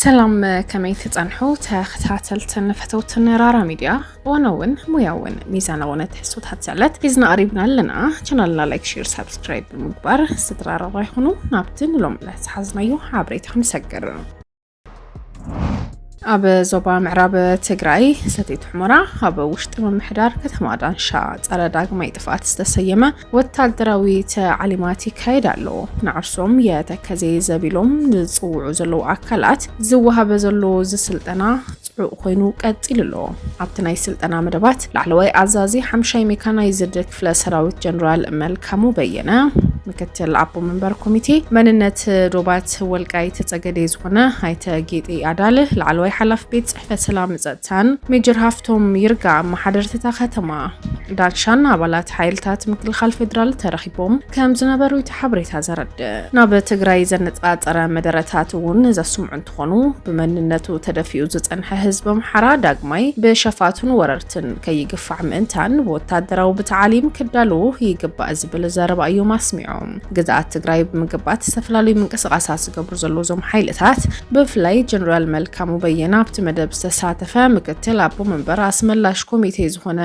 ሰላም ከመይ ትጸንሑ ተኸታተልትን ፈተውትን ራራ ሚድያ እዋናውን ሙያውን ሚዛናውን ትሕዝቶታት ዘለት ሒዝና ቀሪብና ኣለና ቻናልና ላይክ ሼር ሳብስክራይብ ብምግባር ስድራ ራራ ይኹኑ ናብቲ ንሎም ዕለት ዝሓዝናዮ ሓበሬታ ክንሰግር ኣብ ዞባ ምዕራብ ትግራይ ሰቲት ሑመራ ኣብ ውሽጢ ምምሕዳር ከተማ ዳንሻ ጸረ ዳግማይ ጥፍኣት ዝተሰየመ ወታደራዊ ተዕሊማት ይካየድ ኣሎ። ንዓርሶም የተከዜ ዘቢሎም ዝጽውዑ ዘለዉ ኣካላት ዝወሃበ ዘሎ ዝስልጠና ጽዑቕ ኮይኑ ቀጺሉ ኣሎ። ኣብቲ ናይ ስልጠና መደባት ላዕለዋይ ኣዛዚ ሓምሻይ ሜካናይዝድ ክፍለ ሰራዊት ጀነራል መልካሙ በየነ፣ ምክትል ኣቦ መንበር ኮሚቴ መንነት ዶባት ወልቃይት ጸገዴ ዝኾነ ኣይተ ጌጤ ኣዳል፣ ላዕለዋይ ሓላፊ ቤት ጽሕፈት ሰላም ጸጥታ ካፕታን ሜጀር ሃፍቶም ይርጋ ኣመሓደርቲ እታ ከተማ ዳንሻን ኣባላት ሓይልታት ምክልኻል ፌዴራል ተረኺቦም ከም ዝነበሩ እቲ ሓበሬታ ዘረድእ። ናብ ትግራይ ዘነፃፀረ መደረታት እውን ዘስምዑ እንትኾኑ ብመንነቱ ተደፊኡ ዝፀንሐ ህዝቢ ኣምሓራ ዳግማይ ብሸፋቱን ወረርትን ከይግፋዕ ምእንታን ብወታደራዊ ብታዓሊም ክዳልዉ ይግባእ ዝብል ዘረባ እዮም ኣስሚዖም። ግዝኣት ትግራይ ብምግባእ ዝተፈላለዩ ምንቅስቓሳት ዝገብሩ ዘለዉ እዞም ሓይልታት ብፍላይ ጀነራል መልካሙ በየነ ኣብቲ መደብ ዝተሳተፈ ምክትል ኣቦ መንበር ኣስመላሽ ኮሚቴ ዝኾነ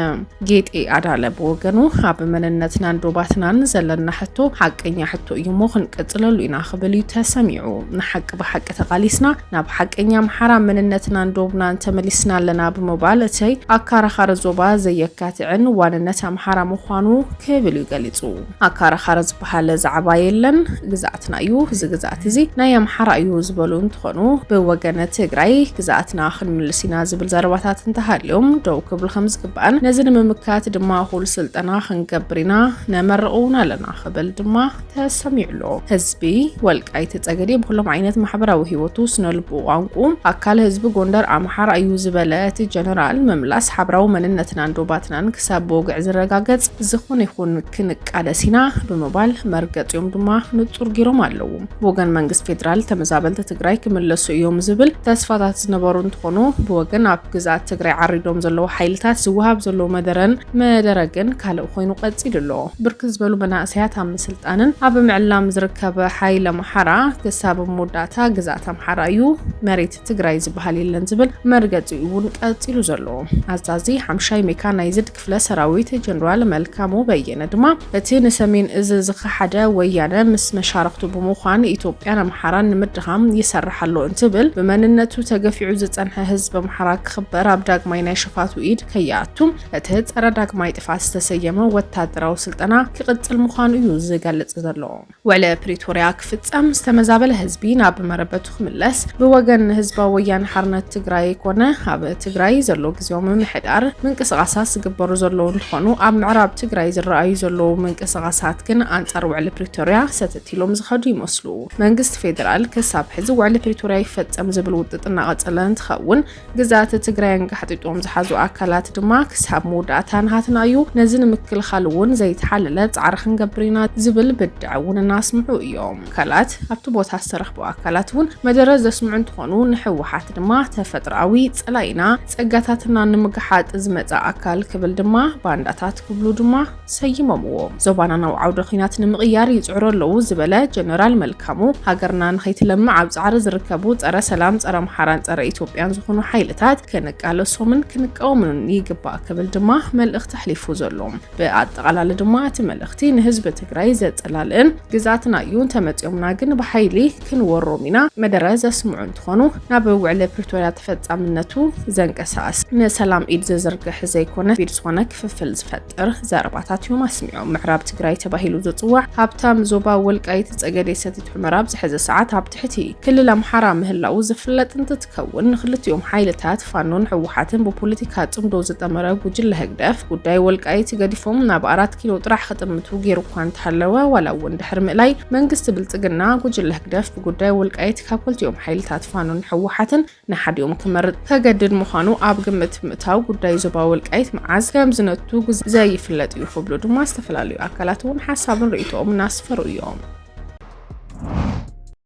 ጌጤ ኣዳለ ብወገኑ ኣብ መንነትናን ዶባትናን ዘለና ሕቶ ሓቀኛ ሕቶ እዩ እሞ ክንቅፅለሉ ኢና ክብል እዩ ተሰሚዑ። ንሓቂ ብሓቂ ተቓሊስና ናብ ሓቀኛ ኣምሓራ መንነትናን ዶብናን ተመሊስና ኣለና ብምባል እቲ ኣካራኻሪ ዞባ ዘየካትዕን ዋንነት ኣምሓራ ምዃኑ ክብል እዩ ገሊፁ። ኣካራኻሪ ዝበሃል ዛዕባ የለን ግዝኣትና እዩ እዚ ግዝኣት እዚ ናይ ኣምሓራ እዩ ዝበሉ እንትኾኑ ብወገነ ትግራይ ግዝኣትና ክንምልስ ኢና ዝብል ዘረባታት እንተሃልዮም ደው ክብሉ ከምዝግባእን ነዚ ንምምካት ድማ እኹል ስልጠና ክንገብር ኢና ነመርቕ እውን ኣለና ክብል ድማ ተሰሚዑ ኣሎ። ህዝቢ ወልቃይት ፀገዴ ብኩሎም ዓይነት ማሕበራዊ ህይወቱ ስነልቡ ቋንቁ ኣካል ህዝቢ ጎንደር ኣምሓራ እዩ ዝበለ እቲ ጀነራል ምምላስ ሓብራዊ መንነትናን ዶባትናን ሰብ ብወግዒ ዝረጋገጽ ዝኹን ይኹን ክንቃለስ ኢና ብምባል መርገጺኦም ድማ ንጹር ጊሮም ኣለዉ። ብወገን መንግስት ፌዴራል ተመዛበልቲ ትግራይ ክምለሱ እዮም ዝብል ተስፋታት ዝነበሩ እንትኾኑ ብወገን ኣብ ግዝኣት ትግራይ ዓሪዶም ዘለዉ ሓይልታት ዝወሃብ ዘሎ መደረን መደረ ግን ካልእ ኮይኑ ቀጺሉ ኣሎ። ብርክት ዝበሉ መናእሰያት ኣብ ምስልጣንን ኣብ ምዕላም ዝርከብ ሓይሊ ኣምሓራ ክሳብ መወዳእታ ግዝኣት ኣምሓራ እዩ መሬት ትግራይ ዝበሃል የለን ዝብል መርገፂኡ እውን ቀፂሉ ዘሎ ኣዛዚ ሓምሻይ ሜካናይዝድ ክፍለ ሰራዊት ጀኔራል መልካሙ በየነ ድማ እቲ ንሰሜን እዝ ዝኸሓደ ወያነ ምስ መሻርኽቱ ብምዃን ኢትዮጵያን ኣምሓራን ንምድኻም ይሰርሕ ኣሎ እንትብል ብመንነቱ ተገፊዑ ዝፀንሐ ህዝቢ ኣምሓራ ክኽበር ኣብ ዳግማይ ናይ ሸፋቱ ኢድ ከይኣቱ እቲ ፀረ ዳግማይ ጥፋት ዝተሰየመ ወታደራዊ ስልጠና ክቕፅል ምዃኑ እዩ ዝገልፅ ዘሎ። ውዕሊ ፕሪቶርያ ክፍፀም፣ ዝተመዛበለ ህዝቢ ናብ መረበቱ ክምለስ ብወገን ህዝባዊ ወያነ ሓርነት ትግራይ ኮነ ኣብ ትግራይ ዘሎ ግዜያዊ ምምሕዳር ምንቅስቓሳት ዝግበሩ ዘለዉ እንትኾኑ ኣብ ምዕራብ ትግራይ ዝረኣዩ ዘለዉ ምንቅስቓሳት ግን ኣንፃር ውዕሊ ፕሪቶርያ ሰተት ኢሎም ዝኸዱ ይመስሉ። መንግስቲ ፌዴራል ክሳብ ሕዚ ውዕሊ ፕሪቶርያ ይፈፀም ዝብል ውጥጥ እናቐፀለ እንትኸውን ግዝኣተ ትግራይ ኣንጋሕጢጦም ዝሓዙ ኣካላት ድማ ክሳብ መወዳእታ ናሃትና እዩ፣ ነዚ ንምክልኻል እውን ዘይተሓለለ ፃዕሪ ክንገብር ኢና ዝብል ብድዐ እውን እናስምዑ እዮም። ካልኣት ኣብቲ ቦታ ዝተረኽቡ ኣካላት እውን መደረ ዘስምዑ እንትኾኑ ንህወሓት ድማ ተፈጥሮኣዊ ፀላኢና ፀጋታትና ንምግሓጥ ዝመፀ ኣካል ክብል ድማ ባንዳታት ክብሉ ድማ ሰይሞምዎ። ዞባና ናብ ዓውደ ኲናት ንምቕያር ይጽዕሩ ኣለዉ ዝበለ ጀነራል መልካሙ፣ ሃገርና ንኸይትለምዕ ኣብ ጻዕሪ ዝርከቡ ጸረ ሰላም፣ ጸረ ኣምሓራን ጸረ ኢትዮጵያን ዝኾኑ ሓይልታት ክንቃለሶምን ክንቃወምምን ይግባእ ክብል ድማ መልእኽቲ ኣሕሊፉ ዘሎ። ብኣጠቓላሊ ድማ እቲ መልእኽቲ ንህዝቢ ትግራይ ዘጸላልእን ግዝኣትና እዩ እንተመጺኦምና ግን ብሓይሊ ክንወሮም ኢና መደረ ዘስምዑ እንትኾኑ ናብ ውዕሊ ፕሪቶርያ ተፈጻምነቱ ዘንቀሳቕስ ንሰላም ኢድ ዝዝርግሕ ዘይኮነ ቢድ ዝኾነ ክፍፍል ዝፈጥር ጥርህ ዘረባታት እዮም ኣስሚዖም። ምዕራብ ትግራይ ተባሂሉ ዝፅዋዕ ሃብታም ዞባ ወልቃይት ፀገዴ ሰቲት ሑመራ ኣብ ዝሐዚ ሰዓት ኣብ ትሕቲ ክልል ኣምሓራ ምህላው ዝፍለጥ እንትትከውን ንክልቲኦም ሓይልታት ፋኖን ህወሓትን ብፖለቲካ ፅምዶ ዝጠመረ ጉጅለ ህግደፍ ጉዳይ ወልቃይት ገዲፎም ናብ ኣራት ኪሎ ጥራሕ ክጥምቱ ገይሩ እኳ እንተሃለወ ዋላ እውን ድሕሪ ምእላይ መንግስቲ ብልፅግና ጉጅለ ህግደፍ ብጉዳይ ወልቃይት ካብ ክልቲኦም ሓይልታት ፋኖን ህወሓትን ንሓዲኦም ክመርጽ ከገድድ ምዃኑ ኣብ ግምት ብምእታው ጉዳይ ዞባ ወልቃይት መዓዝ ከም ዝነቱ ዘይፍለጥ እዩ ክብሉ ድማ ዝተፈላለዩ ኣካላት እውን ሓሳብን ርእይቶኦም እናስፈሩ እዮም።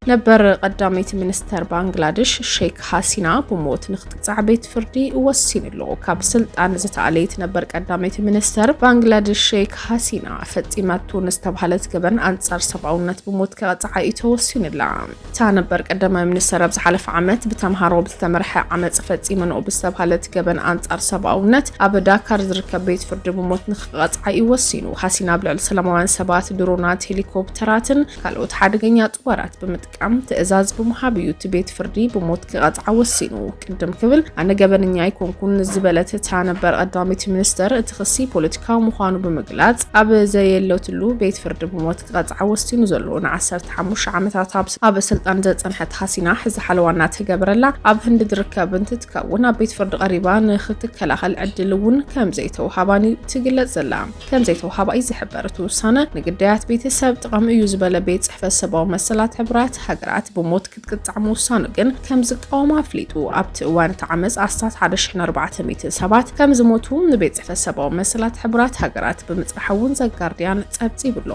ነበር ቀዳመይቲ ሚኒስተር ባንግላዴሽ ሼክ ሃሲና ብሞት ንክትቅፃዕ ቤት ፍርዲ ወሲኑ ኣሎ። ካብ ስልጣን ዝተኣለየት ነበር ቀዳመይቲ ሚኒስተር ባንግላዴሽ ሼክ ሃሲና ፈፂመቶ ንዝተባሃለት ገበን ኣንፃር ሰብኣውነት ብሞት ከቐፅዓ እዩ ተወሲኑላ። እታ ነበር ቀዳማይ ሚኒስተር ኣብ ዝሓለፈ ዓመት ብተምሃሮ ብዝተመርሐ ዓመጽ ፈጺመንኦ ብዝተብሃለት ገበን ኣንጻር ሰብኣውነት ኣብ ዳካር ዝርከብ ቤት ፍርዲ ብሞት ንክቐጽዓ እዩ ወሲኑ። ሃሲና ኣብ ልዕሊ ሰላማውያን ሰባት ድሮናት፣ ሄሊኮፕተራትን ካልኦት ሓደገኛ ጥዋራት ብምጥቃም ትእዛዝ ብምሃብ እዩ እቲ ቤት ፍርዲ ብሞት ክቐጽዓ ወሲኑ። ቅድም ክብል ኣነ ገበነኛ ኣይኮንኩን ዝበለት እታ ነበር ቀዳመይቲ ሚኒስተር እቲ ክሲ ፖለቲካዊ ምዃኑ ብምግላጽ ኣብ ዘየለትሉ ቤት ፍርዲ ብሞት ዝቐጽዓ ወሲኑ ዘሎ ንዓሰርተ ሓሙሽተ ዓመታት ኣብ ስልጣን ዘጸንሐት ሃሲና ሕዚ ሓለዋ እናተገበረላ ኣብ ህንዲ ዝርከብ እንትትከውን ኣብ ቤት ፍርዲ ቀሪባ ንክትከላኸል ዕድል እውን ከምዘይተውሃባን እዩ ትግለጽ ዘላ። ከምዘይተውሃባ እዩ ዝሕበር። እቲ ውሳነ ንግዳያት ቤተሰብ ጥቐም እዩ ዝበለ ቤት ጽሕፈት ሰብኣዊ መሰላት ሕቡራት ሃገራት ብሞት ቅጥዕ ምውሳኑ ግን ከም ዝቃወም ኣፍሊጡ። ኣብቲ እዋን እቲ ዓመጽ ኣስታት ሓደ ሽሕን ኣርባዕተ ሚእትን ሰባት ከም ዝሞቱ ንቤት ጽሕፈት ሰብኣዊ መሰላት ሕቡራት ሃገራት ብምጽራሕ እውን ዘጋርድያን ጸብጺቡ ኣሎ።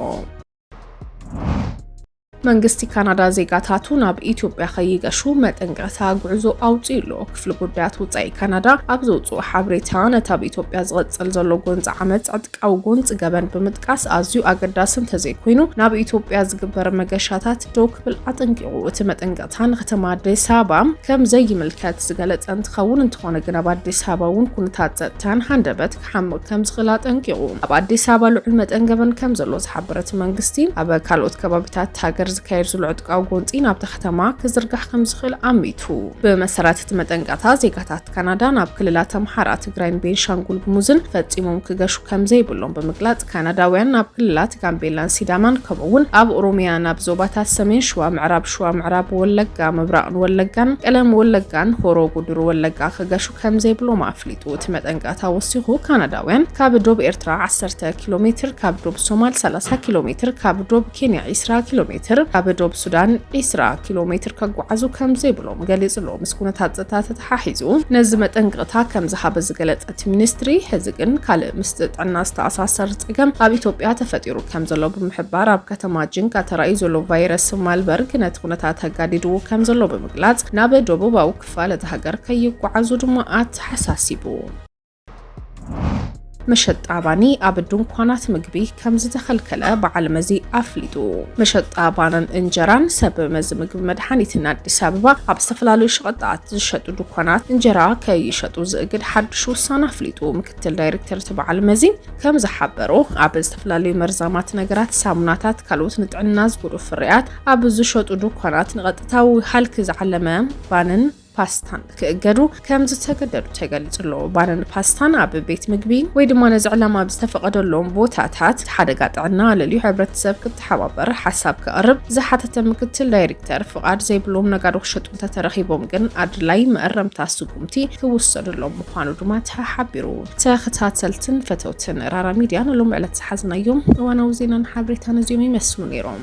መንግስቲ ካናዳ ዜጋታቱ ናብ ኢትዮጵያ ከይገሹ መጠንቀቕታ ጉዕዞ ኣውፅኡ ኣሎ። ክፍሊ ጉዳያት ውፃኢ ካናዳ ኣብ ዘውፅኦ ሓበሬታ ነቲ ኣብ ኢትዮጵያ ዝቐፅል ዘሎ ጎንፂ ዓመፅ ዕጥቃዊ ጎንፂ ገበን ብምጥቃስ ኣዝዩ ኣገዳሲ እንተዘይኮይኑ ናብ ኢትዮጵያ ዝግበር መገሻታት ደው ክብል ኣጠንቂቑ። እቲ መጠንቀቕታ ንከተማ ኣዲስ ኣበባ ከም ዘይምልከት ዝገለጸ እንትኸውን እንተኾነ ግን ኣብ ኣዲስ ኣበባ እውን ኩነታት ጸጥታን ሃንደበት ክሓምቕ ከም ዝኽእል ኣጠንቂቑ። ኣብ ኣዲስ ኣበባ ልዑል መጠን ገበን ከም ዘሎ ዝሓበረ እቲ መንግስቲ ኣብ ካልኦት ከባቢታት ሃገር ዝካየድ ዝሎ ዕጥቃዊ ጎንጺ ናብታ ከተማ ክዝርጋሕ ከም ዝኽእል ኣሚቱ። ብመሰረት እቲ መጠንቀቕታ ዜጋታት ካናዳ ናብ ክልላት ኣምሓራ፣ ትግራይን ቤንሻንጉል ጉሙዝን ፈጺሞም ክገሹ ከምዘይብሎም ብምግላጽ ካናዳውያን ናብ ክልላት ጋምቤላን ሲዳማን ከምኡ'ውን ኣብ ኦሮሚያ ናብ ዞባታት ሰሜን ሽዋ፣ ምዕራብ ሽዋ፣ ምዕራብ ወለጋ፣ ምብራቕን ወለጋን፣ ቀለም ወለጋን ሆሮ ጉዱሩ ወለጋ ክገሹ ከምዘይብሎም ኣፍሊጡ። እቲ መጠንቀቕታ ወሲኹ ካናዳውያን ካብ ዶብ ኤርትራ ዓሰርተ ኪሎ ሜትር፣ ካብ ዶብ ሶማል ሰላሳ ኪሎ ሜትር፣ ካብ ዶብ ኬንያ ዒስራ ኪሎ ሜትር፣ ካብ ዶብ ሱዳን ዒስራ ኪሎ ሜትር ከጓዓዙ ከምዘይብሎም ገሊጹ'ሎ። ምስ ኩነታት ጸጥታ ተተሓሒዙ ነዚ መጠንቀቕታ ከም ዝሃበ ዝገለጸ እቲ ሚኒስትሪ፣ ሕዚ ግን ካልእ ምስቲ ጥዕና ዝተኣሳሰር ጸገም ኣብ ኢትዮጵያ ተፈጢሩ ከም ዘሎ ብምሕባር፣ ኣብ ከተማ ጂንካ ተራእዩ ዘሎ ቫይረስ ማልበርግ ነቲ ኩነታት ኣጋዲድዎ ከም ዘሎ ብምግላጽ፣ ናብ ደቡባዊ ክፋል እታ ሃገር ከይጓዓዙ ድማ ኣተሓሳሲቡ። መሸጣ ባኒ ኣብ ድንኳናት ምግቢ ከም ዝተኸልከለ በዓል መዚ ኣፍሊጡ። መሸጣ ባንን እንጀራን ሰብ መዚ ምግቢ መድሓኒትን ኣዲስ ኣበባ ኣብ ዝተፈላለዩ ሸቐጣት ዝሸጡ ድኳናት እንጀራ ከይሸጡ ዝእግድ ሓድሽ ውሳነ ኣፍሊጡ። ምክትል ዳይሬክተር እቲ በዓል መዚ ከም ዝሓበሮ ኣብ ዝተፈላለዩ መርዛማት ነገራት፣ ሳሙናታት፣ ካልኦት ንጥዕና ዝጎድኡ ፍርያት ኣብ ዝሸጡ ድኳናት ንቐጥታዊ ሃልኪ ዝዓለመ ባንን ፓስታን ክእገዱ ከም ዝተገደዱ ተገሊጹ ኣሎ። ባንን ፓስታን ኣብ ቤት ምግቢ ወይ ድማ ነዚ ዕላማ ኣብ ዝተፈቐደሎም ቦታታት እቲ ሓደጋ ጥዕና ኣለልዩ ሕብረተሰብ ክተሓባበር ሓሳብ ክቐርብ ዝሓተተ ምክትል ዳይሬክተር ፍቓድ ዘይብሎም ነጋዶ ክሸጡ እንተተረኺቦም ግን ኣድላይ መእረምታ ስጉምቲ ክውሰደሎም ምዃኑ ድማ ተሓቢሩ። ተኸታተልትን ፈተውትን ራራ ሚድያ ንሎሚ ዕለት ዝሓዝናዮም እዋናዊ ዜናን ሓበሬታን እዚኦም ይመስሉ ነይሮም።